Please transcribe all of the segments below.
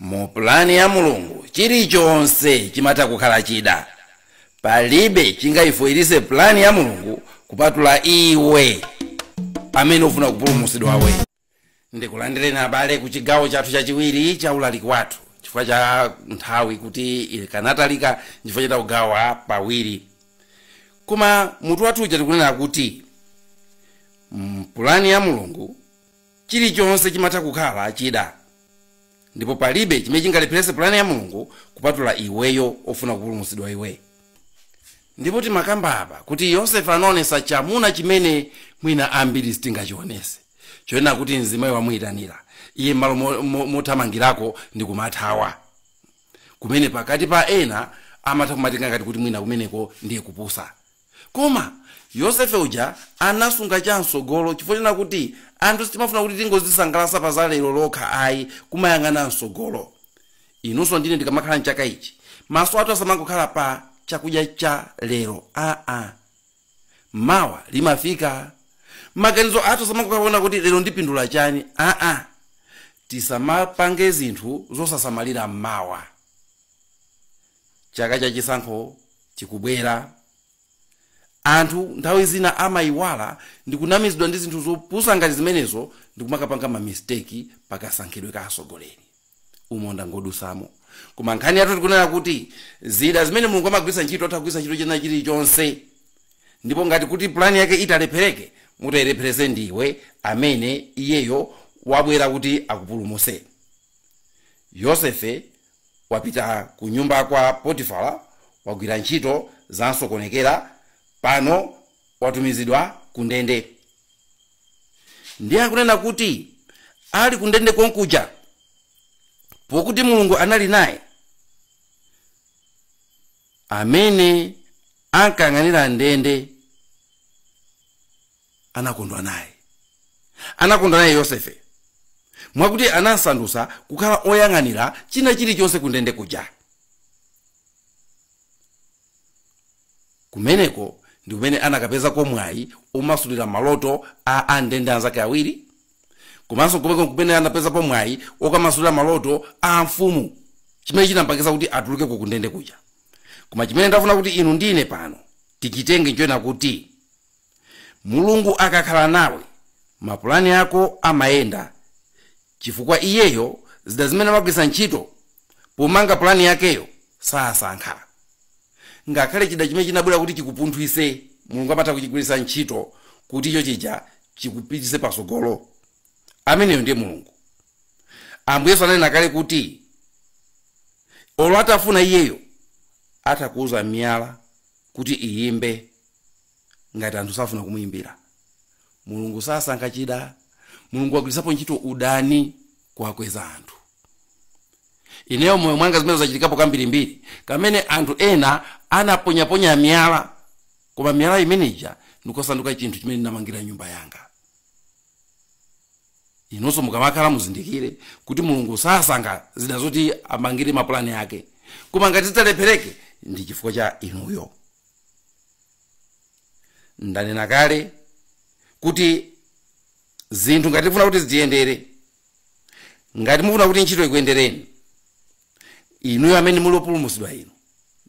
Mu pulani ya Mulungu, chilichonse chimatha kukhala chida. Palibe chingaifoilitse pulani ya Mulungu kupatula iwe amene ufuna kupulumutsidwawe. Ndikulandireni abale ku chigawo chathu chachiwiri cha ulaliki wathu chifukwa cha nthawi kuti ikanatalika chifukwa cha kugawa pawiri. Koma mutu wathu uja tikunena kuti mpulani ya Mulungu chilichonse chimatha kukhala chida ndipo palibe chimene chingalepherese pulani ya mulungu kupatula iweyo ofuna kupulumutsidwa iwe ndipo timakamba apa kuti yosefe anaonesa chamuna chimene mwina ambiri sitingachionese chonena kuti mzimayi wamuyitanira iye m'malo mo- mo- mothamangirako ndi kumathawa kumene pakati pa ena amatha kumatenga ngati kuti mwina kumeneko ndiye kupusa Koma, Yosefe uja anasunga cha mtsogolo chifukwa chonena kuti anthu sitimafuna kuti tingozisangalatsa pa za lero lokha ayi, kumayang'ana mtsogolo. Inunso ndine tikamakhala m'chaka ichi, maso athu asamangokhala pa chakudya cha lero aa. Mawa limafika. Maganizo athu asamangokhala ponena kuti lero ndipindula chani aa. Tisamapange zinthu zosasamalira mawa. chaka cha chisankho chikubwera anthu nthawi zina amayiwala ndikunamizidwa ndi zinthu zopusa ngati zimenezo ndikumakapanga mamisteki pakasankhidwe ka atsogoleri umo ndangodutsamo koma nkhani yathu tikunena kuti zida zimene mulungu amagwiritsa ntchito atha kugwiritsa ntchito china chilichonse ndipo ngati kuti pulani yake italephereke mutayilepheretse ndiwe amene iyeyo wabwera kuti akupulumutse yosefe wapita ku nyumba kwa Potifala, wagwira ntchito zamsokonekera, pano watumizidwa ku ndende. Ndiye akunena kuti ali ku ndende konkuja, pokuti Mulungu anali naye, amene ankayang'anira ndende anakondwa naye anakondwa naye yosefe mwakuti anamsandutsa kukhala oyang'anira china chilichonse kundende kuja kumeneko ndi kumene anakapezako mwayi omasulira maloto a andende anzake awiri komanso kumeko kumene anapezapo mwayi okamasulira maloto a mfumu chimene chinampangitsa kuti atuluke ku kundende kuja koma chimene ndafuna kuti inu ndine pano tichitenge nchonena kuti mulungu akakhala nawe mapulani ako amayenda chifukwa iyeyo zida zimene amagwiritsa ntchito pomanga pulani yakeyo sasankha ngakhale chida chimene chinabwera kuti chikupunthwise mulungu amatha kuchigwiritsa ntchito kuti icho chija chikupitise pasogolo ameneyo ndiye mulungu ambuye yesu ananena kale kuti olo atafuna iyeyo atha kuuza miyala kuti iyimbe ngati anthu safuna kumuyimbira mulungu sasankha chida mulungu wagwiritsapo ntchito udani kuwakweza anthu ineyo moyo mwanga zimene zachitikapo kambirimbiri kamene anthu ena anaponyaponya miyala koma miyala imeneja ndikusanduka chinthu chimene ndinamangira nyumba yanga inonso mukamakhala muzindikire kuti mulungu sasankha zida zoti amangire mapulani ake koma ngati zitalephereke ndi chifukwa cha inuyo ndanena kale kuti zinthu ngati mufuna kuti zitiyendere ngati mufuna kuti ntchito ikuyendereni inuyo amene muli opulumutsidwa inu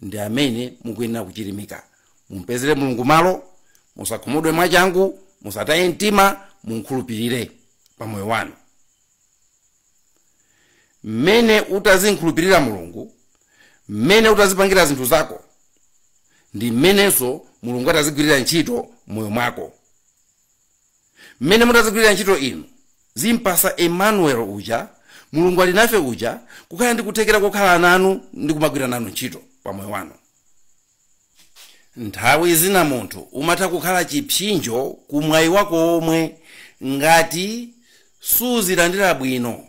ndi amene mukuyenera kuchirimika mumpezere mulungu malo musakhumudwe mwachangu musataye mtima mumkhulupirire pa moyo wanu mmene utazinkhulupirira mulungu mmene utazipangira zinthu zako ndi mmenenso mulungu atazigwirira ntchito m'moyo mwako mmene mutazigwirira ntchito inu zimpasa emmanuel uja mulungu ali nafe uja kukhala ndi kuthekera kokhala nanu ndi kumagwira nanu ntchito pa moyo wanu nthawi zina munthu umatha kukhala chipsinjo ku mwayi wako womwe ngati suzilandira bwino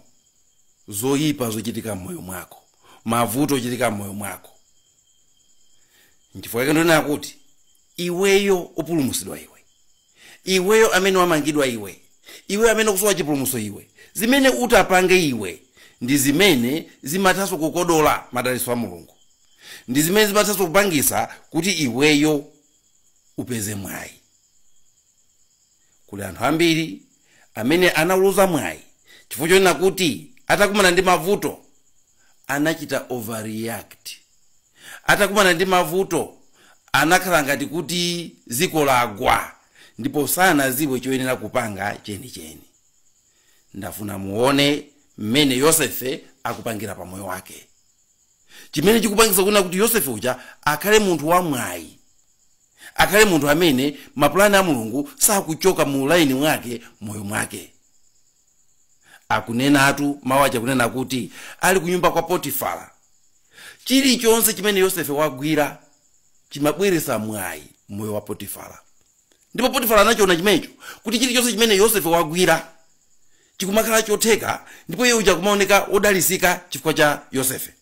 zoyipa zochitika m'moyo mwako mavuto ochitika m'moyo mwako nchifukwa chake ndonena kuti iweyo opulumusidwa iwe Iweyo amene wamangidwa iwe, iweyo amene ukusowa chipulumutso iwe, zimene utapange iwe ndi zimene zimathanso kukodola madalitso a Mulungu, ndi zimene zimathanso kupangitsa kuti iweyo upeze mwayi. Kuli anthu ambiri amene anauluza mwayi chifukwa chonena kuti atakumana ndi mavuto anachita overreact. atakumana ndi mavuto anakhala ngati kuti dziko lagwa ndipo sanadziwe choyenera kupanga chenicheni ndafuna muone mmene yosefe akupangira pa moyo wake chimene chikupangisa kunena kuti yosefe uja akhale munthu wamwayi akhale munthu amene mapulani a mulungu sakuchoka mu laini mwake moyo mwake akunenatu mawu aja kunena kuti ali kunyumba kwa potifara chilichonse chimene yosefe wagwira chimabweretsa mwayi m'moyo wa potifara ndipo potifara anachiona chimenecho kuti chilichonse chimene yosefe wagwira chikumakhala chotheka ndipo iye uja kumaoneka wodalisika chifukwa cha yosefe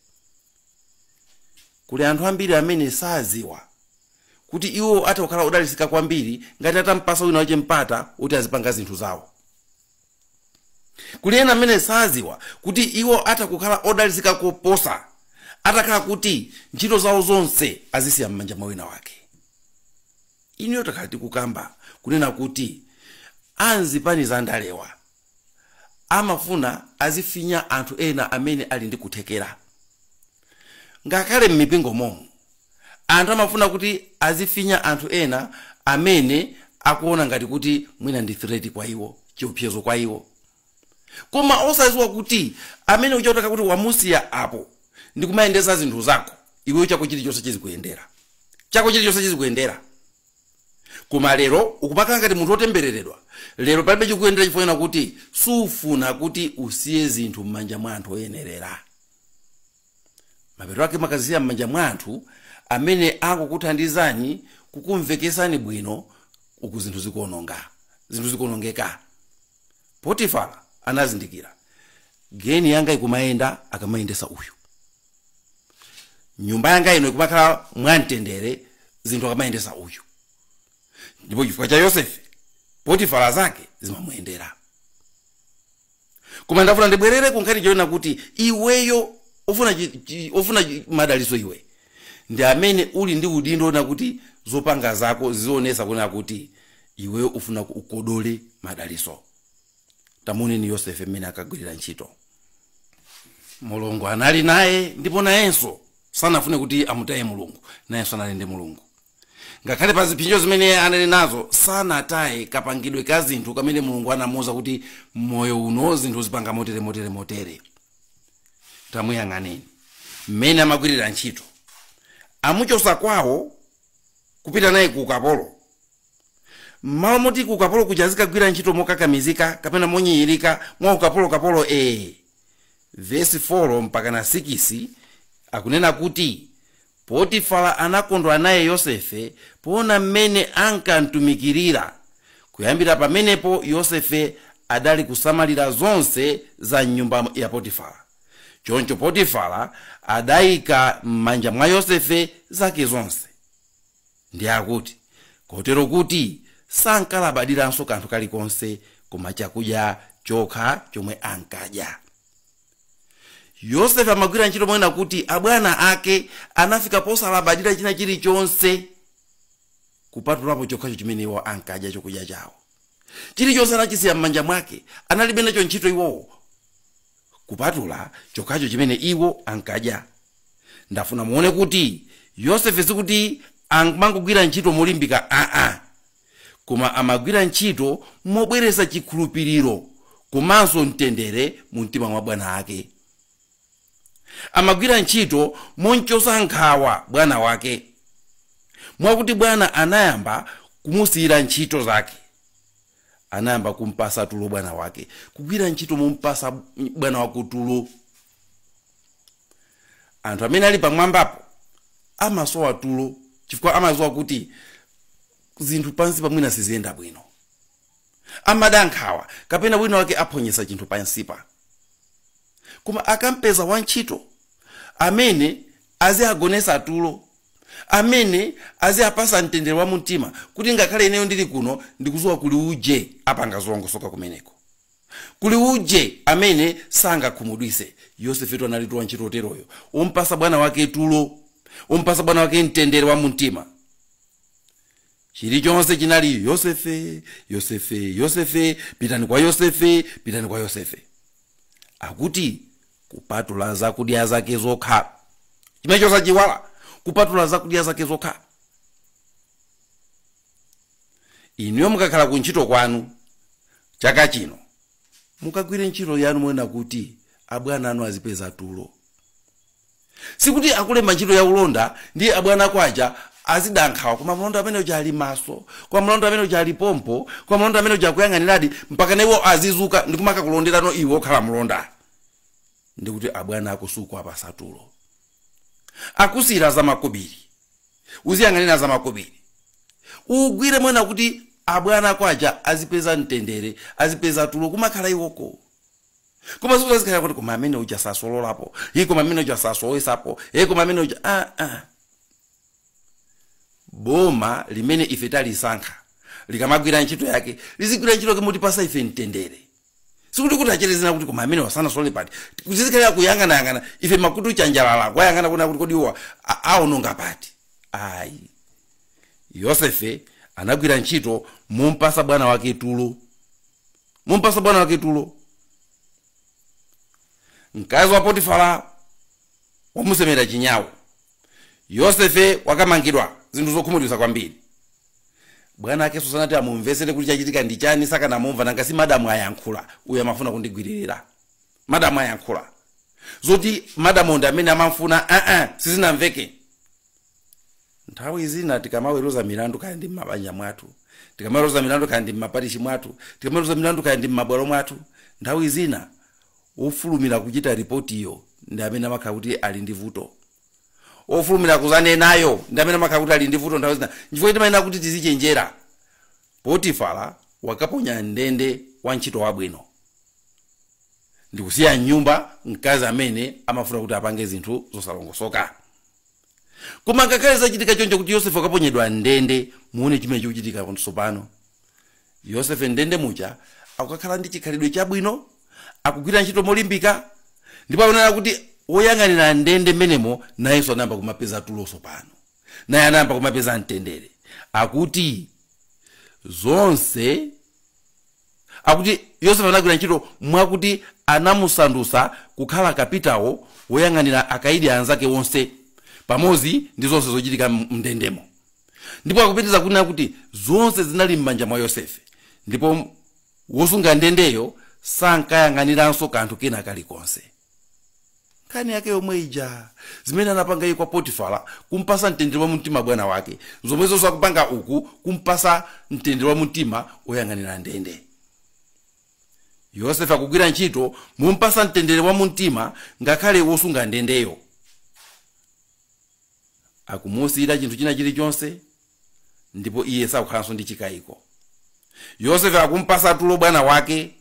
Kuli anthu ambiri amene sadziwa kuti iwo atha kukhala odalitsika kwambiri ngati atampatsa wina wache mpata woti azipanga zinthu zawo. Kuli ena amene sadziwa kuti iwo atha kukhala odalitsika koposa atakhala kuti ntchito zawo zonse azisiya m'manja mwa wina wake. Inuyo takhala tikukamba kunena kuti a m'zipani za ndalewa. amafuna azifinya anthu ena amene ali ndi kuthekera ngakhale m'mipingo momu anthu amafuna kuti azifinya anthu ena amene akuona ngati kuti mwina ndi threat kwa iwo chiopsezo kwa iwo koma osaziwa kuti amene uja utakhala kuti wamusiya apo ndi kumayendesa zinthu zako iweyo chako chilichonse chizikuyendera chako chilichonse chizikuyendera koma lero ukumakhala ngati munthu wotembereredwa lero palibe chikuyendera chifukwa chonena kuti sufuna kuti usiye zinthu m'manja mwa anthu oyenerera mapeto ake mumakazisiya m'manja mwa anthu amene akukuthandizani kukumvekesani bwino uku zinthu zikuononga zinthu zikuonongeka potifara anazindikira geni yangayi ikumayenda akamayendesa uyu nyumba yanga ino ikumakhala mwamtendere zinthu akamayendesa uyu ndipo chifukwa cha yosefe potifara zake zimamuyendera koma ndafuna ndibwerere kunkhani chonena kuti iweyo ofuna, chi- chi- ufuna chi- madaliso iwe ndi amene uli ndi udindo onena kuti zopanga zako zizionesa kunena kuti iweyo ufuna ukodole madaliso tamuoneni yosefe mmene ankagwirira ntchito mulungu anali naye ndipo nayenso sanafune kuti amutaye mulungu nayenso anali ndi mulungu ngakhale pa zipsinjo zimene anali nazo sanataye kapangidwe ka zinthu kamene mulungu anamuuza kuti m'moyo uno zinthu uzipanga motere motere motere tamuyang'aneni mmene amagwirira ntchito amuchosa kwawo kupita naye ku ukapolo mmalo moti ku ukapolo kuja azikagwira ntchito mokakamizika kapena monyinyirika mwa ukapolokapolo ee vesi 4 mpaka na 6 akunena kuti potifara anakondwa naye yosefe poona mmene ankamtumikirira kuyambira pamenepo yosefe adali kusamalira zonse za mnyumba ya potifara choncho potifara adayika m'manja mwa yosefe zake zonse Ndiye akuti, Kotero kuti sankalabadiranso kanthu kalikonse koma chakudya chokha chomwe ankadya. Yosefe amagwira ntchito monena kuti abwana ake anafika posalabadira china chilichonse kupatulapo chokhacho chimene iwo ankadya chokudya chawo. Chilichonse anachisiya m'manja mwake, analibe nacho ntchito iwowo kupatula chokhacho chimene iwo ankadya ndafuna muone kuti yosefe sikuti amangogwira ntchito molimbika aa koma amagwira ntchito mobweresa chikhulupiriro komanso mtendere mu mtima mwa bwana ake amagwira ntchito momchosa nkhawa bwana wake mwakuti bwana anayamba kumusiyira ntchito zake anayamba kumpasa tulo bwana wake kugwira ntchito mompasa bwana wako tulo anthu amene ali pamwambapo amasowa tulo chifukwa amaziwa kuti zinthu pansipa mwina siziyenda bwino amada nkhawa kapena wina wake aphonyesa chinthu pansipa koma akampeza wantchito amene aziagonesa tulo amene aziapasa mtendere wa mumtima kuti ngakhale ineyo ndili kuno ndikuziwa kuli uje apanga zolongosoka kumeneko Kuli uje amene sangakhumudwise. Yosefetu analitu wantchito oteroyo, ompasa bwana wake tulo, ompasa bwana wake mtendere wa mumtima. Chilichonse chinali Yosefe, Yosefe, Yosefe, pitani kwa Yosefe, pitani kwa Yosefe. Akuti kupatula zakudya zake zokha, chimenecho osachiiwala, kupatula zakudya zake zokha. inuyo mukakhala ku ntchito kwanu chaka chino mukagwire ntchito yanu monena kuti abwana anu azipeza tulo sikuti akulemba ntchito ya ulonda ndi abwana ako aja azidankhawa koma mlonda amene uja ali maso koma mlonda amene uja ali pompo koma mlonda amene uja akuyang'aniradi mpakana iwo azizuka ndi kumakakulonderano iwe okhala mlonda ndiye kuti abwana ako sukuwapasa tulo akusiyira za makobiri uziyang'anira zamakobiri ugwire monena kuti abwana ako aja azipeza mtendere azipeza tulo kumakhala iwoko koma sikuti azikhala kuti koma amene uja sasololapo iyi koma amene uja sasowesapo iyi koma amene uja ah, ah. boma limene ife talisankha likamagwira ntchito yake lizigwira ntchito yake motipasa ife mtendere sikuti kuti acherezera kuti koma amenewa sanasolole pati kuti tizikhalira kuyang'anayang'ana ife makutu chanjalala kuwayang'ana kuona kuti kodi awa a- aononga pati ayi yosefe anagwira ntchito mompasa bwana wake tulo mompasa bwana wake tulo mkazi wa potifara wamusemera chinyau Yosefe wakamangidwa zinthu zokhumudwitsa kwambiri. Bwana akenso sanati amumvesere kuti chachitika ndi chani sakanamumva nanga si madam ayankhula uyu amafuna kundigwililira. Madam ayankhula. Zoti madamuwo ndi amene amamfuna aa sizinamveke. Nthawi zina tikamaweruza milandu kaya ndi mmabanja mwathu, tikamaweruza milandu kaya ndi mmaparishi mwathu, tikamaweruza milandu kaya ndi mmabwalo mwathu, nthawi zina Wofulumira kuchita ripotiyo ndi amene amakhala kuti ali ndi vuto. Wofulumira kuzanenayo ndi amene amakhala kuti ali ndi vuto nthawi zina. Nchifukwa chake timayenera kuti tizichenjera. Potifara wakaponya m'ndende wantchito wabwino ndi kusiya m'nyumba mkazi amene amafuna kuti apange zinthu zosalongosoka. koma ngakhale zachitika choncho kuti yosefe wakaponyedwa m'ndende muone chimene chikuchitika tsopano yosefe m'ndende muja akukakhala ndi chikhalidwe chabwino akugwira ntchito molimbika ndipo akunena kuti woyang'anira ndende mmenemo nayenso anayamba kumapeza tulo tsopano naye anayamba kumapeza mtendere akuti zonse akuti yosefe anagwira ntchito mwakuti anamusandutsa kukhala kapitawo woyang'anira akaidi anzake onse pamodzi ndi zonse zochitika m- mndendemo ndipo akupitiriza kunena kuti zonse zinali m'manja mwa yosefe ndipo wosunga ndendeyo sankayang'aniranso kanthu kena kalikonse nkhani yake yomwe ija zimene anapanga iye kwa potifara kumpasa mtendere wa mumtima bwana wake zomwezo akupanga uku kumpasa mtendere wa mumtima oyang'anira ndende yosefe akugwira ntchito mumpasa mtendere wa mumtima ngakhale wosunga ndendeyo akumusiyira chinthu china chilichonse ndipo iye sakukhalanso ndi chikayiko yosefe akumpasa tulo bwana wake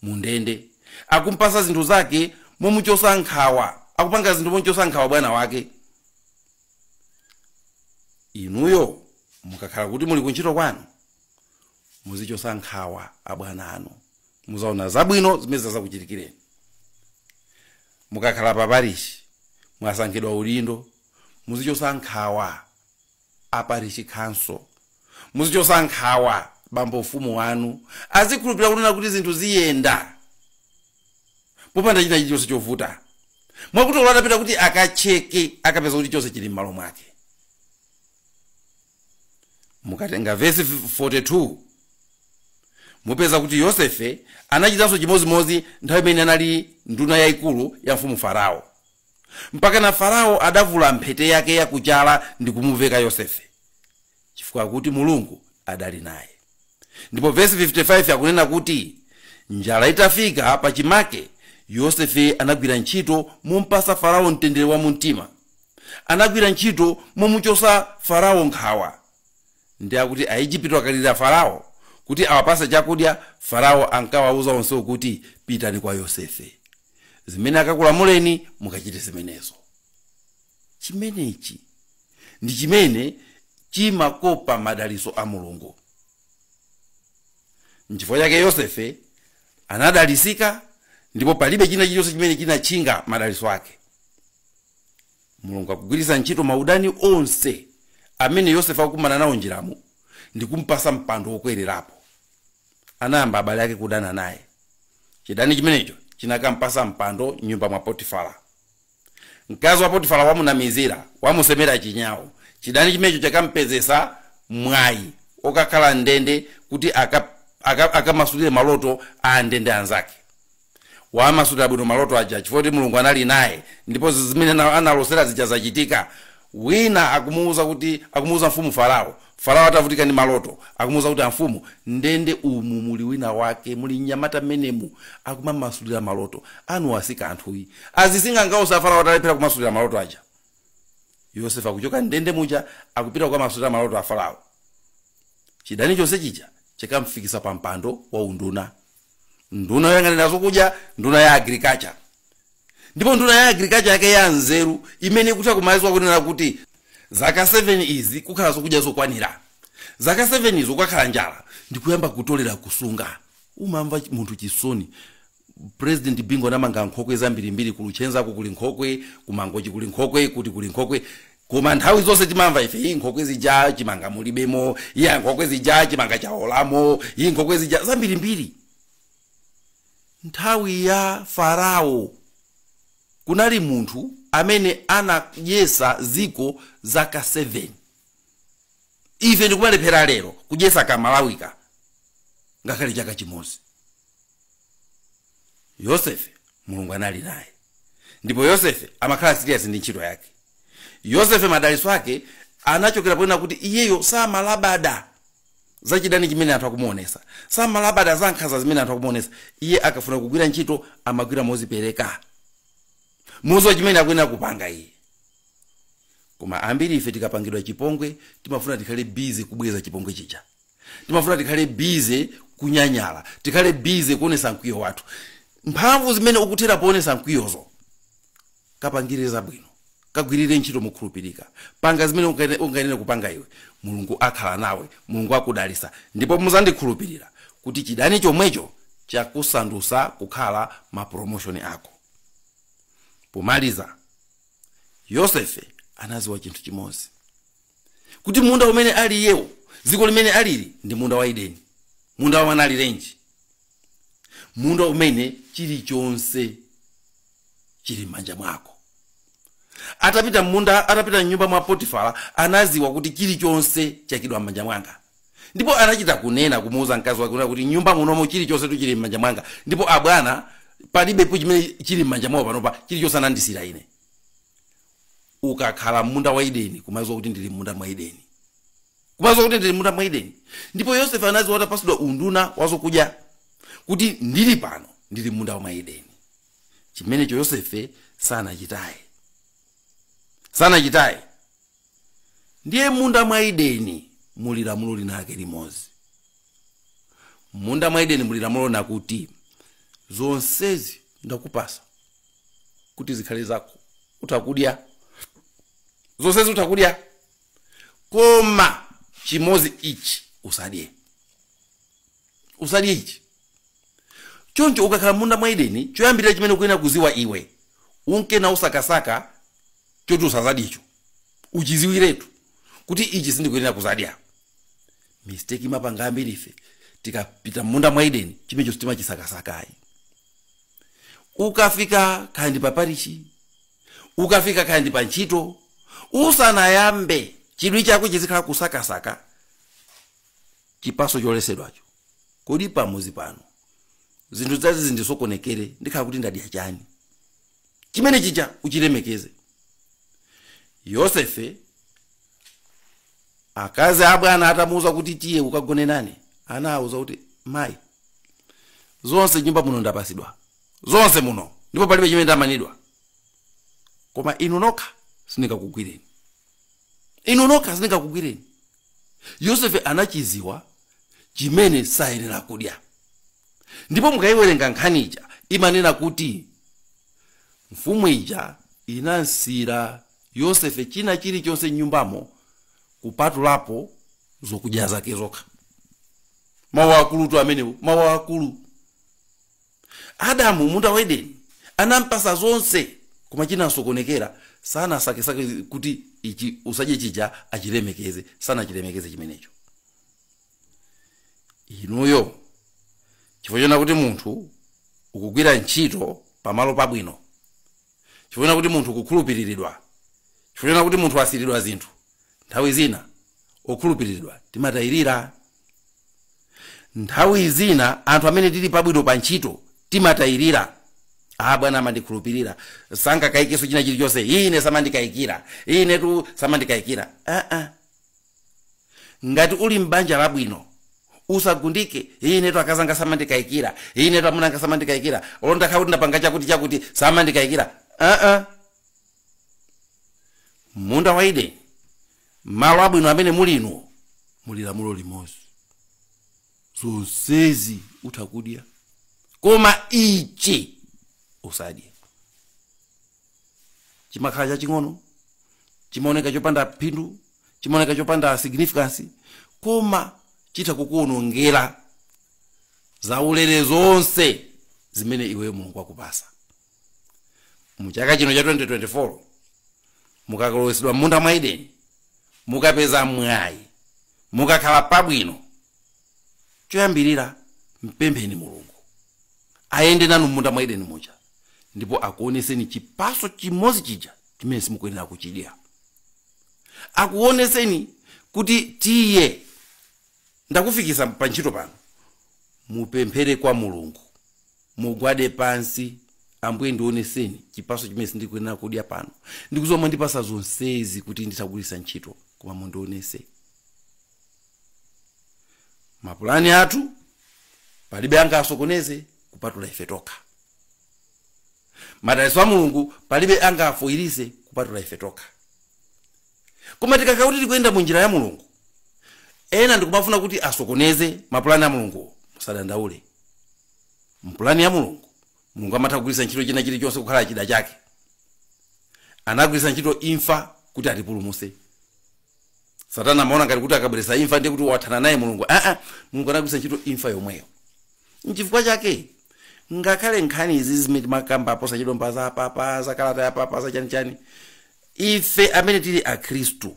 mundende. Akumpasa zinthu zake momuchosa nkhawa. Akupanga zinthu momuchosa nkhawa bwana wake. Inuyo mukakhala kuti muli kuntchito kwanu, muzichosa nkhawa abwana anu. Muzaona zabwino zimene zizakuchitikireni. Mukakhala pa parishi, mwasankhidwa udindo, muzichosa nkhawa. a parish council muzichosa nkhawa bambo mfumu wanu azikhulupirira kunena kuti zinthu ziyenda popanda china chilichonse chovuta mwakuti olo atapita kuti akacheke akapeza kuti chonse chili m'malo mwake mukatenga vesi 42 mupeza kuti yosefe anachitanso chimodzimodzi nthawi imene anali nduna yayikulu ya mfumu farao mpakana Farao adavula mphete yake ya ku chala ndi kumuveka Yosefe, chifukwa akuti Mulungu adali naye. Ndipo vesi 55 akunena kuti njala itafika pa chimake, Yosefe anagwira ntchito mompasa Farao mtendere wa mumtima. Anagwira ntchito momuchosa Farao nkhawa. Ndi akuti Aejipito akalirira Farao kuti awapatse chakudya, Farao ankawauza onsewo kuti, Pitani kwa Yosefe. zimene akakulamuleni mukachite zimenezo chimenechi ndi chimene chimakopa madalitso a mulungu nchifukwa chake yosefe anadalisika ndipo palibe china chilichonse chimene chinatchinga madalitso ake mulungu akugwiritsa ntchito maudani onse amene yosefe akukumana nawo m'njiramo ndi kumpasa mpando wokwererapo anayamba abale ake kudana naye. Chidani chimenecho chinakampasa mpando m'nyumba mwa Potifara. Mkazi wa Potifara wamunamizira, wamusemera chinyau. Chidani chimenecho chakampezesa mwayi wokakhala m'ndende kuti aka- aka- akamasulire maloto a andende anzake. wamasulira bwino maloto aja chifukwa kuti mulungu anali naye ndipo zi- zimene ana- analosera zija zachitika wina akumuuza kuti akumuuza mfumu farao farao atavutika ndi maloto akumuuza kuti amfumu mndende umu muli wina wake muli mnyamata mmenemu akumamasulira maloto anu kwa akaidi asing'anga onse a farao atalephera kumasulira maloto aja yosefe akuchoka mndende muja akupita kukamasulira maloto a farao chidani chonse chija chakamfikitsa pa mpando wa unduna nduna yoyang'anira zokudya nduna ya agriculture ndipo nduna ya agriculture yake ya nzeru imene ikutha kumalingalira kunena kuti zaka 7 izi kukhala zokudya zokwanira zaka 7 izo kukakhala njala ndikuyamba kutolera kusunga umamumva chi- munthu chisoni president bingu anamanga nkhokwe zambirimbiri ku luchenzako kuli nkhokwe ku mangochi kuli nkhokwe kuti kuli nkhokwe koma nthawi zonse timamva ife iyi nkhokwe zija chimanga mulibemo iya nkhokwe zija chimanga chawolamo iyi nkhokwe zija zambirimbiri nthawi ya farao kunali munthu amene anadyetsa dziko zaka 7 ife ndikumalephera lero kudyetsa ka malawika ngakhale chaka chimodzi yosefe mulungu anali naye ndipo yosefe amakhala serious ndi ntchito yake yosefe madaliso ake anachokera ponena kuti iyeyo samalabada za chidani chimene anthu akumuonesa samalabada za nkhanza zimene anthu akumuonesa iye akafuna kugwira ntchito amagwira mozipereka mu icho chimene akuyenera kupanga iye koma ambiri ife tikapangidwa chipongwe timafuna tikhale busy kubweza chipongwe chija timafuna tikhale bize kunyanyala tikhale bize kuonesa mkwiyo wathu mphamvu zimene ukuthera poonesa mkwiyozo kapangire zabwino kagwirire ntchito mokhulupirika panga zimene ungayenere kupanga iwe mulungu akhala nawe mulungu akudalisa ndipo muzandikhulupirira kuti chidani chomwecho chakusandusa kukhala mapromoshoni ako pomaliza yosefe anaziwa chinthu chimodzi kuti munda umene ali iyewo dziko limene alili ndi munda wa edeni munda wa mwanaalirenji munda umene chilichonse chili m'manja mwako atapita m'munda atapita mnyumba mwa potifara anaziwa kuti chilichonse chaikidwa m'manja mwanga ndipo anachita kunena kumuuza mkazi wake kunena kuti nyumba munomo chilichonse tuchili m'manja mwanga ndipo abwana palibepo chimene chili m'manja mwawo panopa chilichonse anandisira ine ukakhala m'munda wa edeni kumaziwa kuti ndili m'munda mwa edeni kumaziwa kuti ndili m'munda mwa edeni ndipo yosefe anaziwa atapasidwa unduna wazokudya kuti ndili pano ndili m'munda mwa edeni chimenecho yosefe sanachitaye sanachitaye ndiye m'munda mwa edeni muli lamulo linake limodzi m'munda mwa edeni muli lamulo lina kuti zonsezi ndakupasa kuti zikhale zako utha kudya zonsezi utha kudya koma chimozi ichi usadye usadye ichi choncho ukakhala m'munda mwa edeni choyambirira chimene ukuyenera kuziwa iwe unkena usakasaka choti usazadyecho uchiziwiretu kuti ichi sindikuyenera kuzadya mistake timapanga ambiri ife tikapita m'munda mwa edeni chimenecho sitimachisakasakayi ukafika kaya ndi pa parishi ukafika kaya ndi pa ntchito usanayambe chidwi chako chizikhala kusakasaka chipaso choletsedwacho kodi pamuzi pano zinthu zanga zindisokonekere ndikhala kuti ndadya chani chimene chija uchilemekeze yosefe akazi abwana atamuuza kuti tiye ukagone nane anawauza kuti mayi zonse nyumba muno ndapasidwa zonse muno ndipo palibe chimene ndamanidwa koma inu nokha sindingakugwireni inu nokha sindingakugwireni yosefe anachiziwa chimene sayenera kudya ndipo mukayiwerenga nkhani ija imanena kuti mfumu ija inamsiyira Yosefe china chilichonse m'nyumbamo kupatulapo zokudya zake zokha. Mawu akulutu amenewo, mawu akulu. Adamu munda wa Edeni anampasa zonse, koma chinamusokonekera sanasake kuti ichi usadye chija achilemekeze, sanachilemekeze chimenecho. Inuyo chifukwa chona kuti munthu ukugwira ntchito pamalo pabwino chifukwa choona kuti munthu ukukhulupiriridwa chifukwa choona kuti munthu wasiyiridwa zinthu nthawi zina okhulupiriridwa timatayirira nthawi zina anthu amene tili pabwino pa ntchito timatayirira ah bwana amandikhulupirira sangakayikenso china chilichonse ine samandikayikira inetu samandikayikira ah, ah. ngati uli m'banja labwino usagundike inetu akazanga samandikayikira inetu amunanga samandikayikira olo nditakhala kuti ndapanga chakuti chakuti samandikayikira aa munda wa edeni malo abwino amene mulimu muli lamulo limodzi zonsezi utha kudya koma ichi usadye chimakhala chaching'ono chimaoneka chopanda phindu chimaoneka chopanda significance koma chitha kukuonongera zaulere zonse zimene iweyo mulungu wakupasa mu chaka chino cha 2024 mukalowesedwa m'munda mwa edeni mukapeza mwayi mukakhala pabwino choyambirira mpempheni mulungu ayende nanu m'munda mwa edeni muja ndipo akuoneseni chipaso chimodzi chija chimene simukuyenera kuchidya akuoneseni kuti tiye ndakufikisa pa ntchito pano mupemphere kwa mulungu mugwade pansi ambuye ndioneseni chipaso chimene sindikuyenera kudya pano ndikuziwa mwandipasa zonsezi kuti nditha kugwiritsa ntchito koma mundionese mapulani athu palibe angasokoneze kupatula ife tokha madalitso a mulungu palibe angafoyiritse kupatula ife tokha koma tikakhala kuti tikuyenda mu njira ya mulungu ena ndikumafuna kuti asokoneze mapulani a mulunguwo musadandaule mpulani ya mulungu mulungu amatha kugwiritsa ntchito china chilichonse kukhala chida chake anagwiritsa ntchito imfa kuti atipulumutse satana amaona ngati kuti akabweretsa imfa ndiye kuti wathana naye mulungu aa mulungu anagwiritsa ntchito imfa yomweyo nchifukwa chake ngakhale nkhani izi zimene timakamba posachedwa za papa za kalata ya papa za chanichani ife amene tili akhristu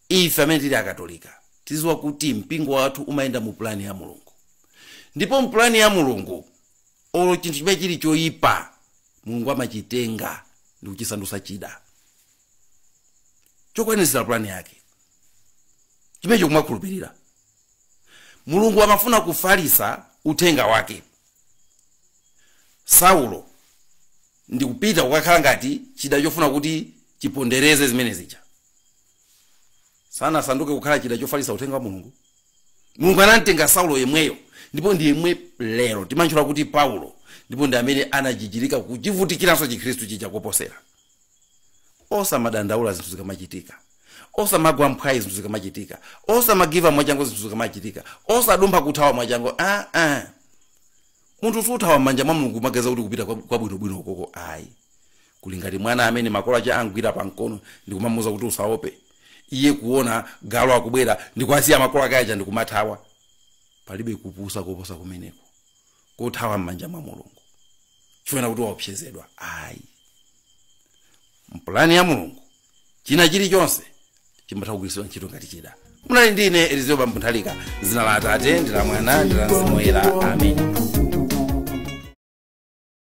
ife amene tili akatolika tiziwa kuti mpingo wathu umayenda mu pulani ya mulungu ndipo mpulani ya mulungu olo chinthu chimene chili choyipa mulungu amachitenga ndikuchisandusa chida chokwanitsira pulani yake chimenecho kumakhulupirira mulungu amafuna kufalisa uthenga wake saulo ndikupita kukakhala ngati chida chofuna kuti chipondereze zimene zija asanasanduke kukhala chida chofalisa uthenga wa mulungu mulungu anamtenga saulo yemweyo ndipo ndi yemwe lero timantchula kuti paulo ndipo ndi amene anajijirika kuchivutikiranso chikhristu chija koposera osamadandaula zinthu zikamachitika osamagwa mphwayi zinthu zikamachitika osamagiva mwachangu zinthu zikamachitika osadumpha kuthawa mwachangu ah, ah. munthu suthawa m'manja mwa mulungu umaganiza kuti kupita kwa- kwabwinobwino ukoko ayi kuli ngati mwana amene makolo ache amugwira pa mkono ndikumamuza kuti usaope iye kuona galu akubwera ndikuasiya makolo ake aja ndikumathawa palibe kupusa koposa kumeneko kothawa m'manja mwa mulungu chifuna kuti waopsezedwa ayi mpulani ya mulungu china chilichonse chimatha kugwiritsidwa ntchito ngati chida munali ndi ine elizeo bambo nthalika dzina la atate ndi la mwana ndi la mzimu woyera amen